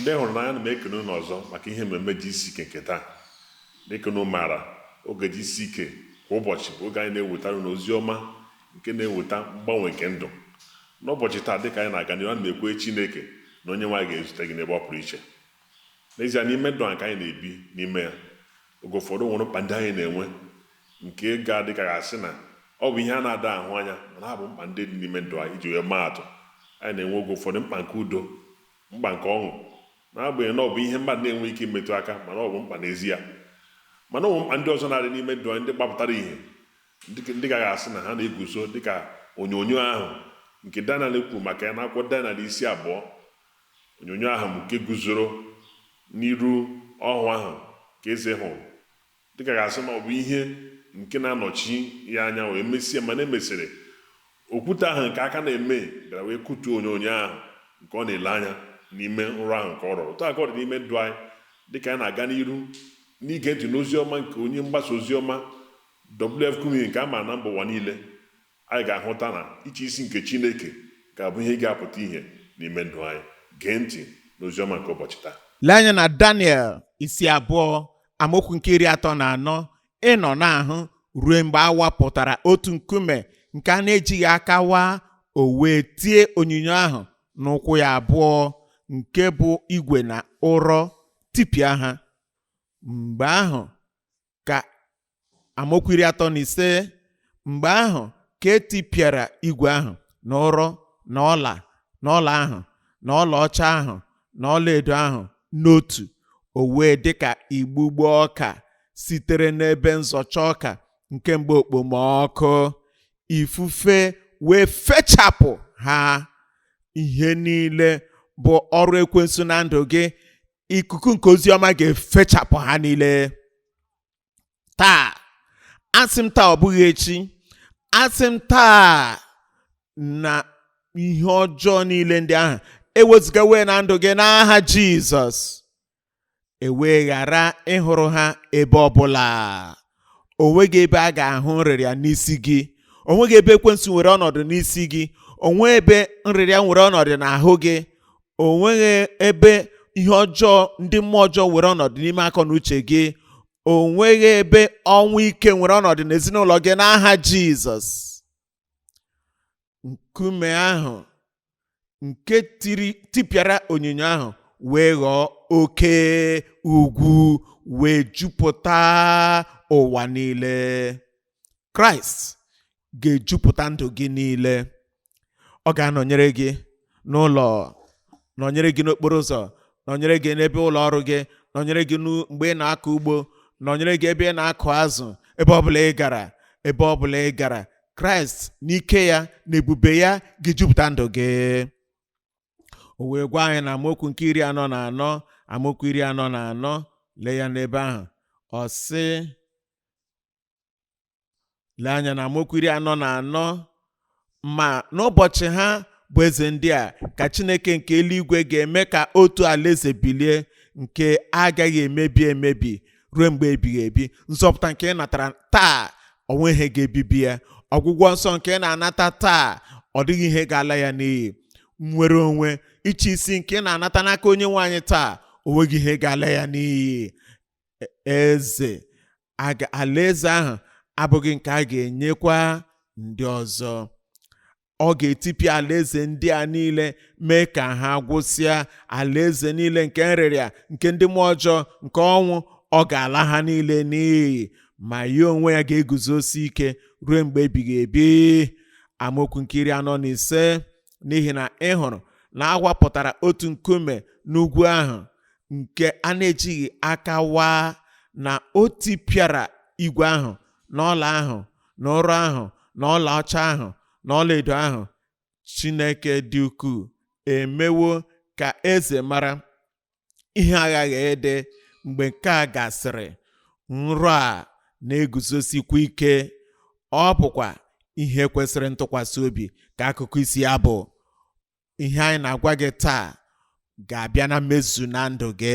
ndị hụrụ n'anya ana m ekene unu ọzọ maka ihe mmemme GCK nke taa dịka unu maara oge GCK kwa ụbọchị bụ oge anyị na-ewetara unu ozi ọma nke na-eweta mgbanwe nke ndụ n'ụbọchị taa dịka anyị na-aga n'ihu ana m ekwe chineke na onyenwe anyị ga-ezute gị n'ebe ọ pụrụ iche n'ezie n'ime ndụ a nke anyị na-ebi n'ime ya Oge ụfọdụ, o nwere mkpa ndị anyị na-enwe nke ga-adị ka a ga-asị na ọ bụ ihe a na-ada ahụ anya, mana ha bụ mkpa ndị dị n'ime ndụ anyị. Iji wee maa atụ, anyị na-enwe oge ụfọdụ mkpa nke udo, mkpa nke ọṅụ, n'agbanyeghị na ọ bụ ihe mmadụ na-enweghị ike imetụ aka, mana ọ bụ mkpa n'ezie. Mana o nwere mkpa ndị ọzọ na-adị n'ime ndụ anyị ndị gbapụtara ihe, ndị dị ka a ga-asị na ha na-eguzo dị ka onyonyo ahụ nke Daniel kwuru maka ya n'akwụkwọ Daniel isi abụọ Onyonyo ahụ nke guzoro n'iru ọhụ ahụ nke eze hụrụ, dịka a ga-asị na ọ bụ ihe nke na-anọchi ya anya wee mesịa mana emesịrị, okwute ahụ nke aka na-eme bịara wee kụtuo onyonyo ahụ nke ọ na-ele anya n'ime nrọ ahụ nke ọ rọrọ. Otu a ka ọ dị n'ime ndụ anyị dịka anyị na-aga n'iru n'ige ntị n'ozi ọma nke onye mgbasa ozi ọma W. F. Kumuyi nke a ma na mba ụwa niile. Anyị ga-ahụta na ịchị isi nke Chineke ga-abụ ihe ga-apụta ihe n'ime ndụ anyị. Gee ntị n'ozi ọma nke ụbọchị taa. Lee anya na Daniel isi abụọ amaokwu nke iri atọ na anọ ị nọ na-ahụ ruo mgbe a wapụtara otu nkume nke a na-ejighị aka waa o wee tie onyinyo ahụ n'ụkwụ ya abụọ nke bụ igwe na ụrọ tipịa ha mgbe ahụ ka amaokwu iri atọ na ise mgbe ahụ ka e tipịara igwe ahụ na ụrọ na ọla na ọla ahụ na ọlaọcha ahụ na ọlaedo ahụ n'otu o wee dị ka igbugbo ọka sitere n'ebe nzọcha ọka nke mgbe okpomọkụ ifufe wee fechapụ ha ihe niile bụ ọrụ ekwensu na ndụ gị ikuku nke ozi ọma ga-efechapụ ha niile taa asị m taa ọ bụghị echi asị m taa na ihe ọjọọ niile ndị ahụ ewezugawo na ndụ gị n'aha jizọs e wee ghara ịhụrụ ha ebe ọbụla o nweghị ebe a ga-ahụ nrịrịa n'isi gị o nweghị ebe ekwensu nwere ọnọdụ n'isi gị o nweghị ebe nrịrịa nwere ọnọdụ n'ahụ gị o nweghị ebe ihe ọjọọ ndị mmụọ ọjọọ nwere ọnọdụ n'ime akọ na uche gị o nweghị ebe ọnwụ ike nwere ọnọdụ n'ezinụlọ gị n'aha jizọs nkume ahụ nke tiri tipịara onyinyo ahụ wee ghọọ oke ugwu wee jupụta ụwa niile kraịst ga-ejupụta ndụ gị niile ọ ga-anọnyere gị n'ụlọ nọnyere gị n'okporo ụzọ nọnyere gị n'ebe ụlọ ọrụ gị nọnyere gị n'u- mgbe ị na-akọ ugbo nọnyere gị ebe ị na-akụ azụ ebe ọbụla ị gara ebe ọbụla ị gara kraịst n'ike ya na ebube ya ga-ejupụta ndụ gị o wee gwa anyị na amaokwu nke iri anọ na anọ amaokwu iri anọ na anọ lee ya n'ebe ahụ ọ sị lee anya na amaokwu iri anọ na anọ ma n'ụbọchị ha bụ eze ndị a ka chineke nke eluigwe ga-eme ka otu alaeze bilie nke agaghị emebi emebi ruo mgbe ebighị ebi nzọpụta nke ị natara taa o nweghị ihe ga-ebibi ya ọgwụgwọ nsọ nke ị na-anata taa ọ dịghị ihe ga-ala ya n'iyi nnwere onwe ịchị isi nke ị na-anata n'aka onye nwe anyị taa o nweghị ihe ga-ala ya n'iyi E- eze aga- alaeze ahụ abụghị nke a ga-enyekwa ndị ọzọ ọ ga-etipịa alaeze ndị a niile mee ka ha gwụsịa alaeze niile nke nrịrịa nke ndị mmụọ ọjọọ nke ọnwụ ọ ga-ala ha niile n'iyi ma ya onwe ya ga-eguzosi ike ruo mgbe ebighị ebi amaokwu nke iri anọ na ise n'ihi na ị hụrụ na awapụtara otu nkume n'ugwu ahụ nke a na-ejighị aka waa na o tipịara igwe ahụ na ọla ahụ na ụrọ ahụ na ọlaọcha ahụ na ọlaedo ahụ chineke dị ukwuu emewo ka eze mara ihe aghaghị ịdị mgbe nke a gasịrị nrọ a na-eguzosikwa ike ọ bụkwa ihe kwesịrị ntụkwasị obi ka akụkọ isi ya bụ ihe anyị na-agwa gị taa ga-abịa na mmezu na ndụ gị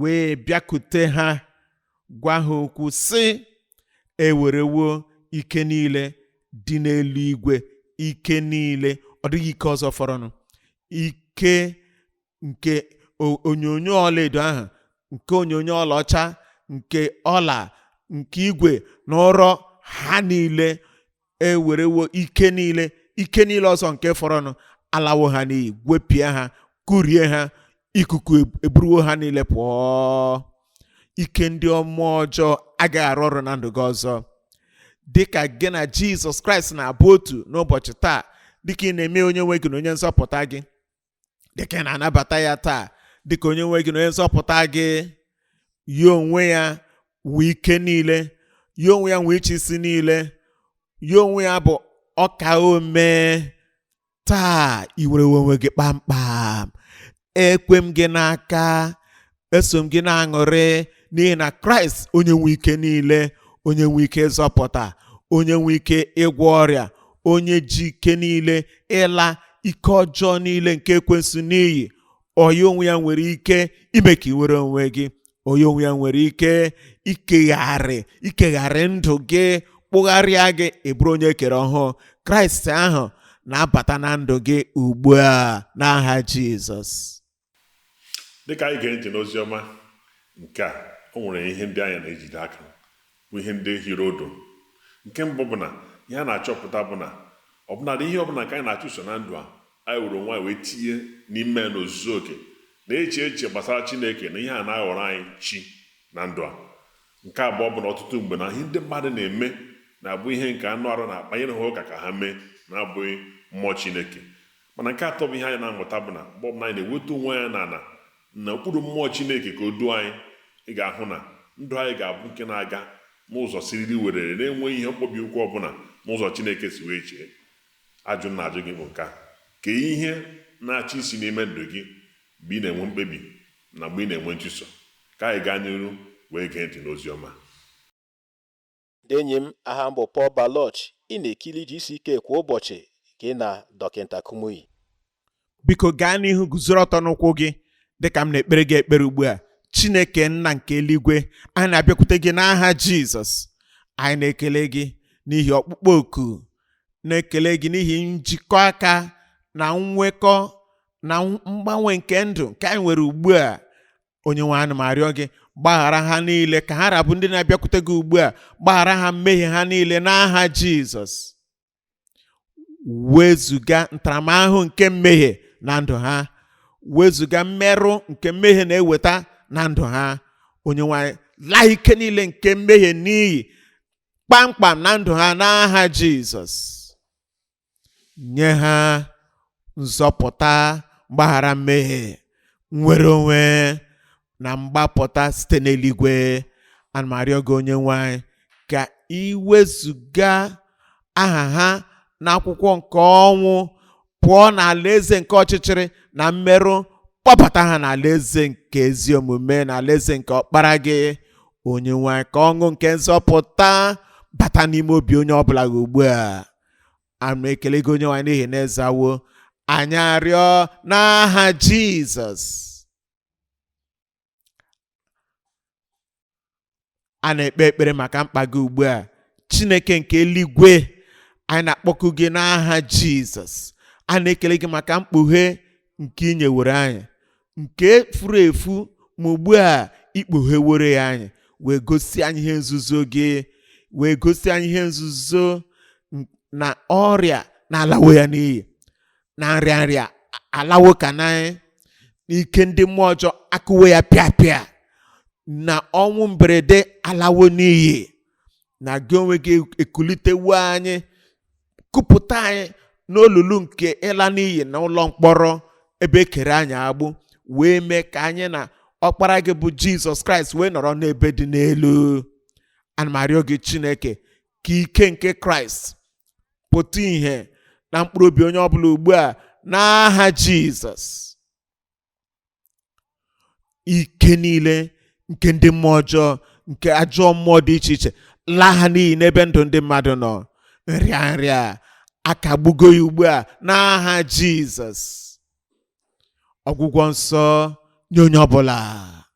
wee bịakute ha gwa ha okwu sị ewerewo ike niile dị n'eluigwe ike niile ọ dịghị ike ọzọ fọrọnụ ike nke onyonyo ọlaedo ahụ nke onyonyo ọlaọcha nke ọla nke igwe na ụrọ ha niile ewerewo ike niile ike niile ọzọ nke fọrọnụ alawo ha n'iyi gwepịa ha kụrie ha ikuku eburuwo ha niile pụọ ike ndị mmụọ ọjọọ agaghị arụ ọrụ na ndụ gị ọzọ dịka gị na jizọs kraịst na-abụ otu n'ụbọchị taa dịka ị na-eme onye nwe gị na onye nzọpụta gị dịka ị na-anabata ya taa dịka onye nwe gị na onye nzọpụta gị ya onwe ya nwe ike niile ya onwe ya nwe ịchị isi niile ya onwe ya bụ ọka ome taa i nwere onwe gị kpamkpam ekwe m gị n'aka eso m gị na-aṅụrị n'ihi na kraịst onye nwe ike niile onye nwe ike ịzọpụta onye nwe ike ịgwọ ọrịa onye ji ike niile ịla ike ọjọọ niile nke ekwensu n'iyi ọ ya onwe ya nwere ike ime ka ị nwere onwe gị ọ ya onwe ya nwere ike ikegharị ikegharị ndụ gị kpụgharịa gị ị bụrụ onye e kere ọhụụ kraịst ahụ na-abata na ndụ gị ugbu a n'aha jizọs dịka anyị ga-ege ntị n'ozi ọma nke a o nwere ihe ndị anyị na-ejide aka bụ ihe ndị hiri odo nke mbụ bụ na ihe a na-achọpụta bụ na ọbụnadị ihe ọbụla nke anyị na-achụso na ndụ a anyị were onwe anyị wee tinye n'ime ya n'ozuzu oke na-eche eche gbasara chineke na ihe a na-aghọrọ anyị chi na ndụ a nke abụọ bụ na ọtụtụ mgbe na ihe ndị mmadụ na-eme na-abụ ihe nke anụ arụ na-akpanyere ha ụka ka ha mee na-abụghị mmụọ chineke Mana nke atọ bụ ihe anyị na-amụta bụ na mgbe ọbụla anyị na-ewetu onwe anyị n'ala na okpuru mmụọ Chineke ka o duo anyị, ị ga-ahụ na ndụ anyị ga-abụ nke na-aga n'ụzọ siriri werere na-enweghị ihe mkpọbi ụkwụ ọbụla n'ụzọ Chineke si wee chee. Ajụjụ m na-ajụ gị bụ nke a, Kee ihe na-achị isi n'ime ndụ gị mgbe ị na-enwe mkpebi na mgbe ị na-enwe nchụso? Ka anyị gaa n'iru wee gee ntị n'ozi ọma. Ndị enyi m, aha m bụ Paul Baloche. Ị na-ekiri GCK kwa ụbọchị gị na Dọkịta Kumuyi. Biko gaa n'ihu guzoro ọtọ n'ụkwụ gị dịka m na-ekpere gị ekpere ugbu a. Chineke nna nke eluigwe, anyị na-abịakwute gị n'aha Jizọs. Anyị na-ekele gị n'ihi ọkpụkpọ oku, na-ekele gị n'ihi njikọ aka na nnwekọ na mgbanwe nke ndụ nke anyị nwere ugbu a. onye nwe anyị ana m arịọ gị gbaghara ha niile ka ha ra bụ ndị na-abịakwute gị ugbu a gbaghara ha mmehie ha niile n'aha jizọs wezuga ntaramahụhụ nke mmehie na ndụ ha wezuga mmerụ nke mmehie na-eweta na ndụ ha onye nwe anyị laa ike niile nke mmehie n'iyi kpamkpam na ndụ ha n'aha jizọs nye ha nzọpụta mgbaghara mmehie nnwere onwe na mgbapụta site n'eluigwe ana m arịọ gị onye nwe anyị ka i wezuga aha ha n'akwụkwọ nke ọnwụ pụọ n'ala eze nke ọchịchịrị na mmerụ kpọbata ha n'ala eze nke ezi omume na ala eze nke ọkpara gị onye nwe anyị ka ọṅụ nke nzọpụta bata n'ime obi onye ọbụla gị ugbu a a na-ekele gị onye nwe anyị n'ihi na ịzawo anyị arịọ n'aha jizọs a na-ekpe ekpere maka mkpa gị ugbu a chineke nke eluigwe anyị na-akpọku gị n'aha jizọs a na-ekele gị maka mkpughe nke ị nyeworo anyị nke furu efu ma ugbu a ikpugheworo ya anyị wee gosi anyị ihe nzuzo gị wee gosi anyị ihe nzuzo n- na ọrịa na-alawo ya n'iyi na nrịa nrịa alawo ka na ike ndị mmụọ ọjọọ akụwo ya pịa pịa na ọnwụ mberede alawo n'iyi na gị onwe gị ekulitewo anyị kupụta anyị n'olulu nke ịla n'iyi na ụlọ mkpọrọ ebe ekere anyị agbụ wee mee ka anyị na ọkpara gị bụ jizọs kraịst wee nọrọ n'ebe dị n'elu ana m arịọ gị chineke ka ike nke kraịst pụta ìhè na mkpụrụ obi onye ọbụla ugbu a n'aha jizọs ike niile nke ndị mmụọ ọjọọ nke ajọ mmụọ dị iche iche laa ha n'iyi n'ebe ndụ ndị mmadụ nọ nrịa nrịa akagbugo ya ugbu a n'aha jizọs ọgwụgwọ nsọ nye onye ọbụla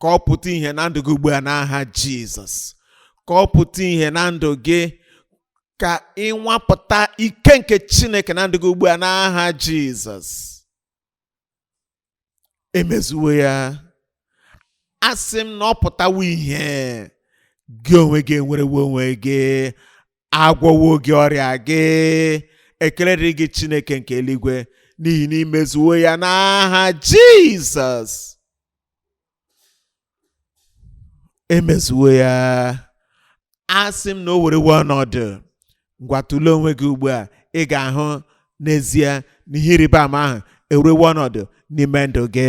ka ọ pụta ìhè na ndụ gị ugbu a n'aha jizọs ka ọ pụta ìhè na ndụ gị ka ịnwapụta ike nke chineke na ndụ gị ugbu a n'aha jizọs emezuwo ya asị m na ọ pụtawo ìhè gị onwe gị enwerewo onwe gị agwọwo gị ọrịa gị ekele dịrị gị chineke nke eluigwe n'ihi na imezuwo ya n'aha jizọs emezuwo ya asị m na o werewe ọnọdụ ngwa tụlee onwe gị ugbu a ị ga-ahụ n'ezie na ihe ịrịba ama ahụ ewerewe ọnọdụ n'ime ndụ gị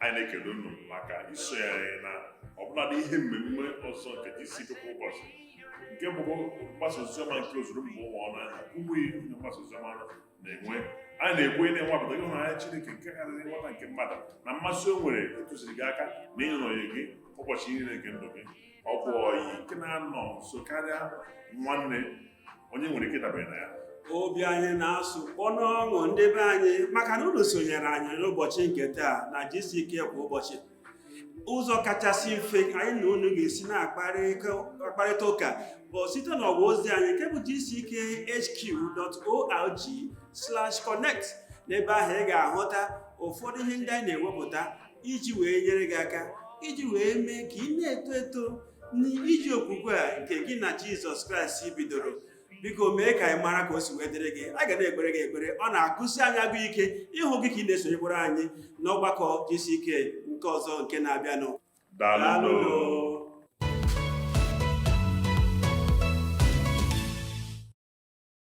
anyị na-ekele unu maka isonye anyị na ọbụladị ihe mmemme ọzọ nke GCK kwa ụbọchị nke bụ mgbasa oziọma nke ozuru mba ụwa ọnụ ahụ Kumuyi onye mgbasa oziọma na-enwe anyị na-ekwe ị na-enwapụta ịhụnanya Chineke nke karịrị nghọta nke mmadụ na mmasị o nwere ịtụziri gị aka na ịnọnye gị ụbọchị niile nke ndụ gị ọ bụ ọyị nke na-anọ nso karịa nwanne onye nwere ike dabere na ya obi anyị na-asụ ọnụ ọṅụ ndị be anyị maka na unu sonyere anyị n'ụbọchị nke taa na GCK kwa ụbọchị ụzọ kachasị mfe anyị na unu ga-esi na-akparịta ụka bụ site n'ọwa ozi anyị nke bụ gckhq.org slash connect n'ebe ahụ ị ga-ahụta ụfọdụ ihe ndị anyị na-ewepụta iji wee nyere gị aka iji wee mee ka ị na-eto eto n'ije okwukwe a nke gị na jizọs kraịst bidoro biko mee ka anyị mara ka o si wee dịrị gị a ga na-ekpere gị ekpere ọ na-agụsi anyị agụụ ike ịhụ gị ka ị na-esonyekwara anyị n'ọgbakọ GCK nke ọzọ nke na-abịanụ Daalụ.